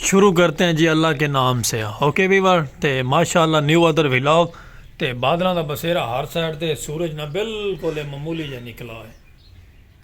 شروع کرتے ہیں جی اللہ کے نام سے اوکے ویور تے ماشاءاللہ نیو ادر ویلاگ تے بادلان دا بسیرہ ہر سائٹ تے سورج نہ بالکل معمولی جے نکلا ہے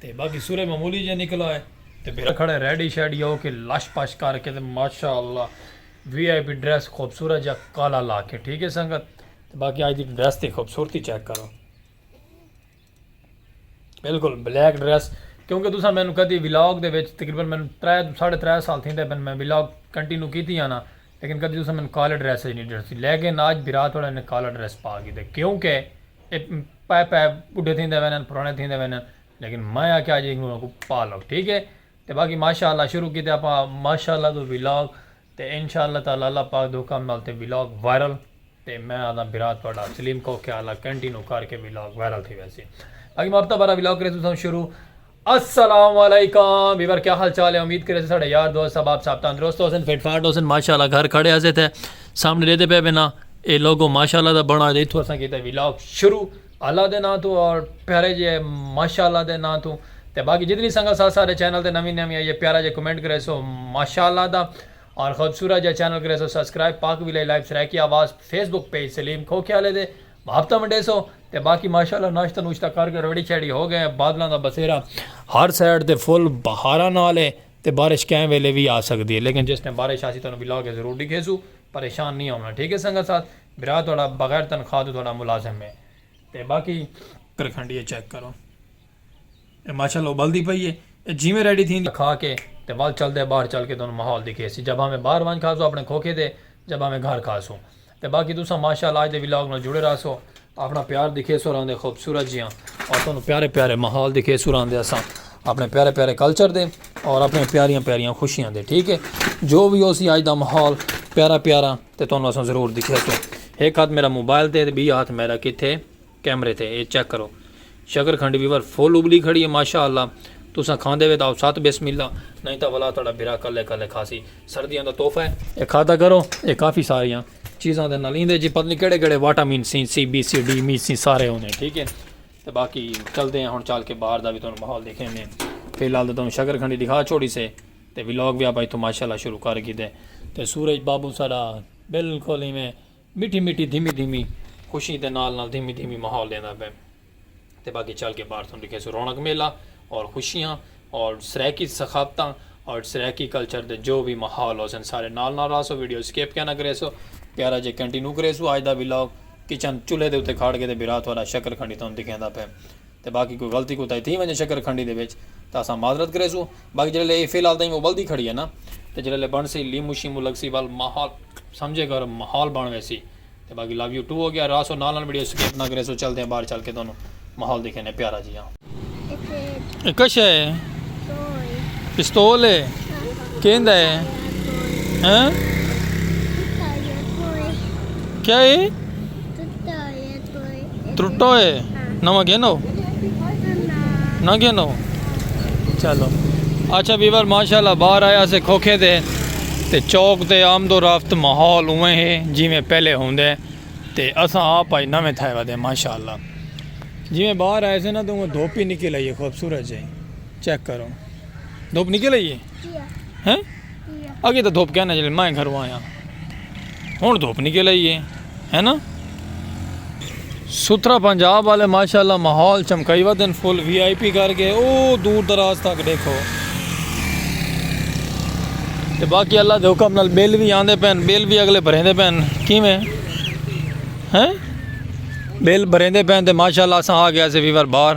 تے باقی سورج معمولی جے نکلا ہے تے بھیرا کھڑے ریڈی شیڈی ہو کے لش پش کر کے تے ماشاءاللہ وی آئی پی ڈریس خوبصورت جا کالا لا کے ٹھیک ہے سنگت باقی آج دی ڈریس تے خوبصورتی چیک کرو بالکل بلیک ڈریس کیونکہ تساں میں نو کدی ویلاگ دے وچ تقریبا میں نو ترے ساڑھے ترے سال تھیں دے میں ویلاگ کنٹینیو کیتی آنا لیکن کدی تساں میں نو کالے ڈریس نہیں ڈیٹھسی لیکن آج بھرا تھوڑا نے کالے ڈریس پا گی دے کیونکہ پے پے بڈھے تھیں دے وینا پرانے تھیں دے وینا لیکن میں آکے آج ایک نو کو پا لو ٹھیک ہے تے باقی ماشاءاللہ شروع کیتے اپا ماشاءاللہ تو ویلاگ تے انشاء اللہ تعالی اللہ پاک دے حکم نال تے ولاگ وائرل تے میں آدھاں بھرا تہاڈا سلیم کوکیہ آلا کنٹینو کر کے ولاگ وائرل تھی ویسی باقی میں ہفتہ وارا ولاگ کرے تساں شروع السلام علیکم ویور کیا حال چال ہے امید کرے ساڈے یار دوست سب آپ سب تندرست ہوسن فٹ فاٹ ہوسن ماشاءاللہ گھر کھڑے ہسے تے سامنے دیتے پے بنا اے لوگو ماشاءاللہ دا بنا دے تھو اساں کیتے ولاگ شروع اللہ دے ناں توں اور پیارے جے ماشاء اللہ دے ناں توں تے باقی جتنی سنگت ساتھ ساڈے چینل تے نویں نویں آئی اے پیارا جے کمنٹ کریسو ماشاء اللہ دا اور خوبصورت جا چینل کریسو سبسکرائب پاک ویلے لائیو سرائیکی آواز فیس بک پیج سلیم کھوکھے آلے دے محبتاں ونڈیسو تے باقی ماشاء اللہ ناشتہ نوشتہ کر کے ریڈی شیڈی ہو گئے بادلاں دا بسیرا ہر سائیڈ تے فل بہاراں نال اے تے بارش کہیں ویلے وی آ سکدی اے لیکن جس ٹائم بارش آسی تانوں ولاگ اچ ضرور ڈکھیسو پریشان نی ہوونا ٹھیک اے سنگت ساتھ بھرا تہاڈا بغیر تنخواہ توں تہاڈا ملازم ہے تے باقی۔ کرکھنڈی اے چیک کرو اے ماشاء اللہ ابلدی پئی اے اے جیویں ریڈی تھیندی۔ کھا کے تے ول چل دے باہر چل کے تہانوں ماحول دکھیسی جا بھاویں باہر ونج کھاسو اپنے کھوکھے تے جا بھاویں گھر کھاسو تے باقی تساں ماشاء اللہ اج دے ولاگ نال جڑے رہسو اپنا پیار دکھیسو راندے خوبصورت جیاں اور تہانوں پیارے پیارے ماحول دکھیسو راندے اساں اپنے پیارے پیارے کلچر دے اور اپنی پیاریاں پیاریاں خوشیاں دے ٹھیک ہے جو وی ہوسی اج دا ماحول پیارا پیارا۔ تے تہانوں اساں ضرور دکھیا توں ہک ہتھ میرا موبائل تے تے بی ہتھ میرا کتھے کیمرے تے اے چیک کرو شکر کھنڈی ویور فل ابلی کھڑی ہے ماشاء اللہ تساں کھاندے وے تاؤ ست بسم اللہ نہیں تاں ولا تہاڈا بھرا کلے کلے کھاسی سردیاں دا تحفہ ہے اے کھادا کرو اے کافی ساریاں چیزاں دے نال ایندے جی پتہ نہیں کیڑے کیڑے واٹامن سی سی بی سی ڈی می سی سارے ہوندے ہیں ٹھیک ہے تے باقی چلدے ہیں ہن چل کے باہر دا بھی تہانوں ماحول دکھیندے ہیں فی الحال تے تہانوں شکر کھنڈی دکھا چھوڑی سے تے ولاگ وی آپاں اتھوں ماشاءاللہ شروع کر گھیدے تے سورج بابو ساڈا بلکل ایویں مٹھی مٹھی دھیمی دھیمی خوشی دے نال نال دھیمی دھیمی ماحول ڈیندا پئے تے باقی چل کے باہر تھانوں ڈکھیسوں رونق میلہ اور خوشیاں اور سرائیکی ثقافتاں اور سرائیکی کلچر دے جو وی ماحول ہوسن سارے نال نال راہسو ویڈیو اسکیپ کیا نہ کریسو پیارا جے کنٹینو کریسو آج دا ولاگ کچن چولھے دے اتے کھاڑ کے تے بھرا تھوڑا شکر کھنڈی تھانوں دکھیندا پئے تے باقی کوئی غلطی کوتاہی تھی ونجے شکر کھنڈی دے وچ تاں اساں معذرت کریسوں باقی جیڑھے لے اے فی الحال تئیں ابلدی کھڑی ہے نا تے جیڑھے لے بنڑسی لیمو شیمو لگسی ول ماحول سمجھے گرم ماحول بنڑ ویسی تے باقی لو یو ٹو ہو گیا راسو نال نال ویڈیو سکپ نہ کریسو چلدے ہیں باہر چل کے تہانوں ماحول دکھینے پیارا جیہاں۔ اے کشے ہے پستول ہے کیندا ہے ہاں کیا ہے؟ ترٹو ہے نواں گھنو نہ گھنو چلو اچھا بیور ماشاءاللہ باہر آیا سے کھوکھے دے تے چوک تے آمد و رفت ماحول اوے ہے جی میں پہلے ہوں دے تے اساں آپ آئی نویں تھائے ودے ماشاءاللہ جی میں باہر آئے سے نا تو وہ دھوپی نکل آئیے خوبصورت جائیں چیک کرو دھوپ نکل آئیے ہیں اگے تو دھوپ کہنا جلے میں گھروں آیا ہوں دھوپ نکل آئی ہے ہے نا ستھرا پنجاب والے ماشاءاللہ ماحول چمکائی وا دن فل وی آئی پی کر کے او دور دراز تک دیکھو تے باقی اللہ دے حکم نال بل بھی آندے پین بل بھی اگلے بھریں دے پین کیویں ہیں بل بھریں دے پین تے ماشاءاللہ اساں آ گیا سے ویور باہر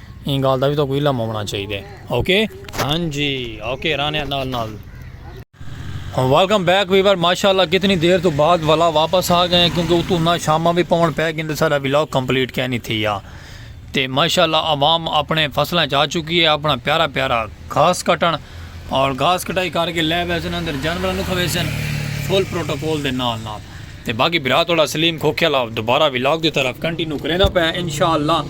ایں گالھ دا وی تہاکوں علم ہووݨا چاہیدے اوکے ہن جی اوکے رانیاں نال نال ویلکم بیک ویور ماشاءاللہ کتنی دیر توں بعد ولا واپس آ گئے کیونکہ اتوں نہ شاماں وی پون پے گن تے ساڈا ولاگ کمپلیٹ کہہ نی تھیا تے ماشاءاللہ عوام اپنے فصلاں چ آ چکی ہے اپنا پیارا پیارا گھاس کٹن اور گھاس کٹائی کر کے لے ویسن اندر جانوراں نوں کھویسن فل پروٹوکول دے نال نال تے باقی بھرا تہاڈا سلیم کھوکھے آلا دوبارہ ولاگ دی طرف کنٹینیو کریندا پئے آں انشاء اللہ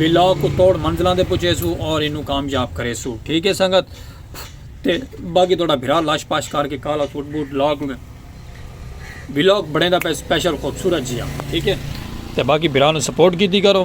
ولاگ کوں توڑ منزلاں تے پہنچیسوں اور اینوں کامیاب کریسوں ٹھیک ہے سنگت تے باقی تہاڈا بھرا لاش پاش کر کے کالا سوٹ بوٹ لا کے ولاگ بنیندا پئے سپیشل خوبصورت جیہاں ٹھیک ہے تے باقی بھرا نوں سپورٹ کیتی کرو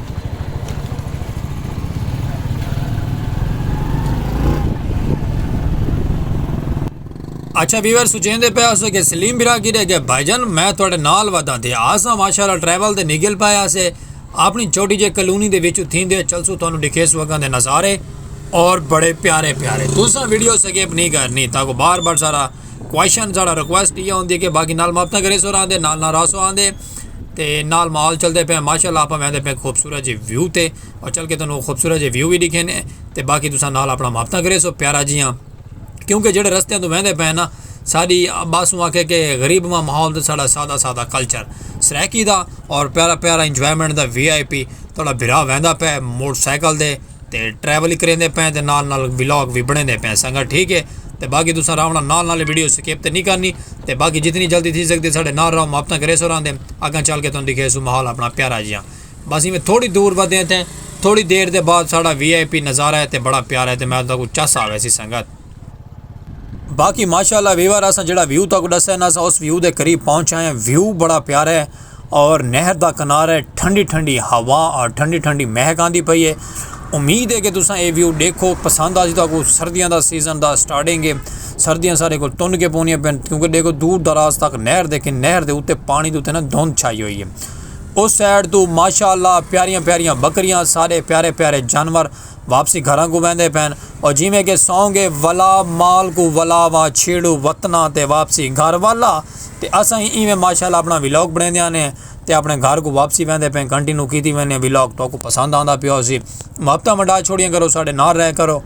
اچھا ویور سوچیں دے پیا سو کہ سلیم برا کی دے گئے بھائی جان میں تھوڑے نال ودا دے آسا ماشاء اللہ ٹریول دے نگل پایا سے اپنی چھوٹی جے کلونی دے وچ تھیں دے چل سو تھانو دکھے سو اگاں دے نظارے اور بڑے پیارے پیارے تساں ویڈیو سکیپ نہیں کرنی تاکو بار بار سارا کوشن سارا ریکویسٹ یہ ہوندی ہے کہ باقی نال ماپتہ کرے سو رہا دے نال نال راسو آن دے تے نال ماحول چلدے پے ماشاءاللہ اپاں ویندے پے خوبصورت جے ویو تے اور چل کے تانوں خوبصورت جے ویو وی ڈیکھینے تے باقی تساں نال اپنا مابطہ کرے سو پیارا جیاں کیونکہ جیڑھے رستے توں ویندے پے نا ساڈی عباس اوں آکھے کہ غریب ماں ماحول تے ساڈا سادہ سادہ کلچر سرائیکی دا اور پیارا پیارا انجوائمنٹ دا وی آئی پی تہاڈا بھرا ویندا پے موٹر سائیکل دے تے ٹریول کریندے پئے تے نال نال ولاگ وی بنیندے پئے سنگت ٹھیک ہے تے باقی تساں راونا نال نال ویڈیو سکپ تے نہیں کرنی تے باقی جتنی جلدی تھی سکدی ساڈے نال راو محبتاں کریسو راندے اگاں چل کے تانوں دکھیسو محول اپنا پیارا جیاں بس ایویں تھوڑی دور ودے تے تھوڑی دیر دے بعد ساڈا وی آئی پی نظارہ ہے تے بڑا پیارا ہے تے میں تہاکوں چس آویسی سنگت باقی ماشاءاللہ ویور اساں جڑا ویو تاکو ڈسے نا اساں اس ویو دے قریب پہنچ آئے ہیں ویو بڑا پیارا ہے اور نہر دا کنارہ ٹھنڈی ٹھنڈی ہوا اور ٹھنڈی ٹھنڈی مہک آندی پئی ہے امید ہے کہ تساں اے ویو دیکھو پسند آ جی تاکو سردیاں دا سیزن دا سٹارٹنگ ہے سردیاں سارے کو تن کے پونیاں پین کیونکہ دیکھو دور دراز تک نہر دیکھیں نہر دے اوتے پانی دے اوتے نا دھند چھائی ہوئی ہے اس سائڈ تو ماشاءاللہ پیاریاں پیاریاں بکریاں سارے پیارے پیارے جانور واپسی گھراں کوں ویندے پئن او جیویں کہ سونگے ولا مال کوں ولا وا چھیڑو وطناں تے واپسی گھر والا تے اساں ہی ایویں ماشاءاللہ اپنا ولاگ بنڑیندیاں نے تے اپنے گھر کوں واپسی ویندے پئن کنٹینو کیتی وینے ولاگ توکوں پسند آندا پیا ہوسی محبتاں ونڈا چھوڑیاں کرو ساڈے نال رہیا کرو۔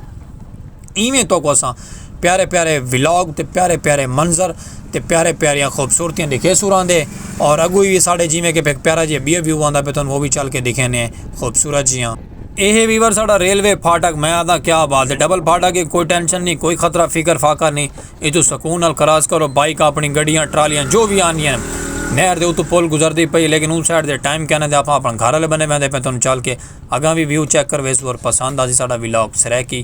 ایویں توکوں اساں پیارے پیارے ولاگ تے پیارے پیارے منظر تے پیارے پیاریاں خوبصورتیاں ݙیکھے سورھاں دے اور اڳوں وی ساݙے جیویں کہ ہک پیارا جیہا ٻیا ویو آندا پئے تہاݙے او وی چل کے ݙیکھیندے ہیں خوبصورت جیہاں۔ اے ہے ویور ساݙا ریلوے پھاٹک میں آکھداں کیا بات ہے ڈبل پھاٹک ہے کوئی ٹینشن نی کوئی خطرہ فکر فاقہ نی ایتھوں سکون نال کراس کرو بائیک آپݨی گݙیاں ٹرالیاں جو وی آندیاں ہن نہر دے اتوں پل گزردی پئی ہے لیکن اوں سائیڈ تے ٹائم کائناں تے آپاں آپݨے گھر آلے بنیں ویندے پئے تہاݙوں چل کے اڳاں وی ویو چیک کر ویسوں اور پسند آسی ساݙا ولاگ سرائیکی۔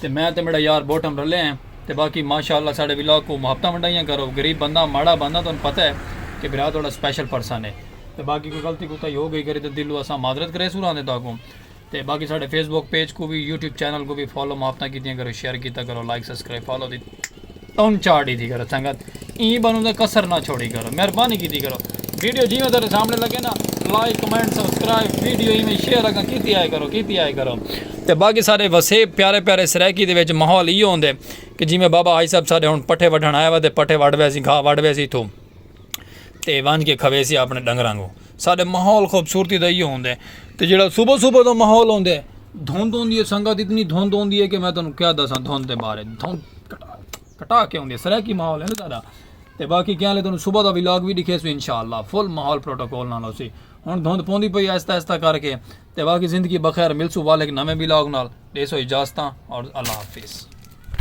تے میں تے میڈا یار بوٹم رلے ہیں تے باقی ماشاء اللہ ساڈے ولاگ کوں محبتاں ونڈائیاں کرو غریب بندہ ماڑا بندہ تہن پتہ ہے کہ برا تہاڈا سپیشل پرسن ہے تے باقی کوئی غلطی کوتاہی ہو گئی کری تے دلوں اساں معذرت کریسوں راں دے تہاکوں تے باقی ساڈے فیس بک پیج کوں وی یوٹیوب چینل کوں وی فالو محبتاں کیتیاں کرو شیئر کیتا کرو لائک سبسکرائب فالو دی تن چار ڈیدھی کرو سنگت ایں بنوں دا کسر نہ چھوڑی کرو مہربانی کیتی کرو ویڈیو جیویں تیرے سامنے لگے نا لائک کمنٹ سبسکرائب ویڈیو ایویں شیئر اگا کیتی آئے کرو کیتی آئے کرو تے باقی سارے وسے پیارے پیارے سرائیکی دے وچ ماحول ایو ہوندے کہ جیویں بابا حاج صاحب سارے ہن پٹھے وڈھن آیا وا تے پٹھے وڈھ ویسی گھا وڈھ ویسی تھو تے ونج کے کھویسی اپنے ڈنگراں کو ساڈے ماحول خوبصورتی دا ایہو ہوندے تے جیڑا صبح صبح دا ماحول ہوندے دھند ہوندی ہے سنگت اتنی دھند ہوندی ہے کہ میں تانوں کیا دساں دھند دے بارے دھند کٹا کے ہوندی ہے سرائیکی ماحول ہے نا ساڈا تے باقی کیا لے تانوں صبح دا ولاگ وی ڈکھے سو انشاءاللہ فل ماحول پروٹوکول نال ہوسی ہن دھند پوندی پئی آہستہ آہستہ کر کے تے باقی زندگی بخیر ملسو والک نویں ولاگ نال ڈیسو اجازتاں اور اللہ حافظ